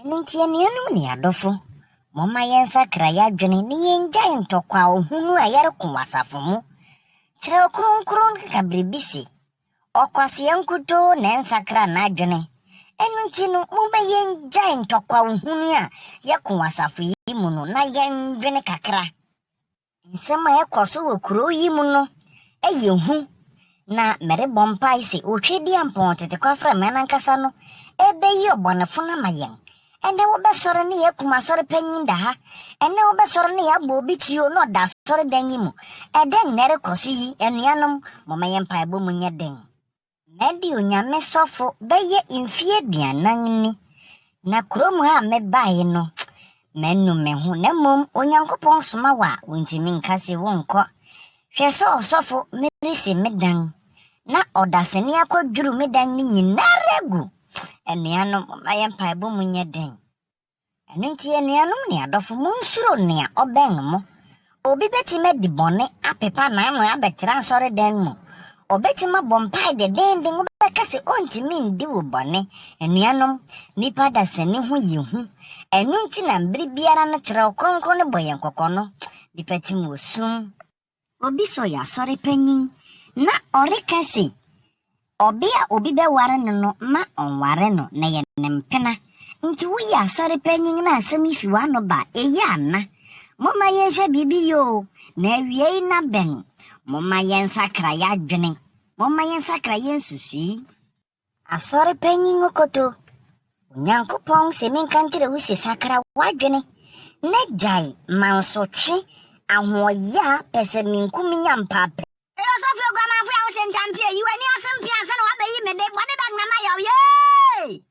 Ɛno nti, anuanom ne adɔfo, momma yɛnsakra yɛn adwene na yengyae ntɔkwaw hunu a yɛreko wɔ asafo mu. Kyerɛw Kronkron no ka biribi se, Ɔkwasea nkutoo na ɛnsakra n'adwene. Ɛno nti no, momma yengyae ntɔkwaw hunu a yɛko wɔ asafo yi mu no na yɛnnwene kakra. Nsɛm a ɛkɔ so wɔ kurow yi mu no yɛ hu, na merebɔ mpae sɛ Otwedeampɔn tete kwaframa no ankasa no rebeyi ɔbɔnefo no ama yɛn. Ɛnnɛ wɔbɛsɔre na yɛakum asɔre panyin da ha. Ɛnnɛ wɔbɛsɔre na yɛabɔ obi tuo na ɔda asɔredan yi mu. Ɛdɛn na ɛrekɔ so yi, anuanom? Momma yɛn mpaebɔ mu nyɛ den. Na bio Nyame sɔfo bɛyɛ mfie aduanan ni, na kurom ha a mebae no, manu me ho, na mmom Onyankopɔn soma wo a, wontumi nka se wonkɔ. Hwɛ sɛ ɔsɔfo, meresi me dan, na ɔdasani akɔdwiriw me dan no nyinara agu. Anuanom, momma yɛn mpaebɔ mu nyɛ den. Ɛno nti, anuanom ne adɔfo, munsuro nea ɔbɛn mo. Obi betumi adi bɔne, apepa n'ano abɛtra asɔredan mu. Obetumi abɔ mpae denneennen, wobɛka sɛ ontumi ndi wo bɔne. Anuanom, nnipa adasani ho yɛ hu. Ɛno nti na bere biara no Kyerɛw Kronkron no bɔ yɛn kɔkɔ no, Nnipa tim wɔ sum. Obi so yɛ asɔre panyin na ɔreka se ɔbea a obi bɛware no no mma ɔnware no na ɛyɛ ne mpena. Enti woyɛ asɔre panyin na asɛm yi fi w'ano ba a, eye ana? Momma yɛnhwɛ biribi yɛ oo, na awiei no abɛn. Momma yɛnsakra yɛn adwene. Momma yɛnsakra yɛn nsusui. Asɔre panyin no koto. Onyankopɔn sɛ menka nkyerɛ wo se sakra w'adwene na gyae mansotwe, ahoɔyɛ a pɛsɛmenku menya mpaapaa. Eyo sɔfie oguamanfo ya wo se ntampie, yi w'ani ase mpee ansa na w'abɛyi me de, bɔne bɛtena m'ayɛ wo, yee!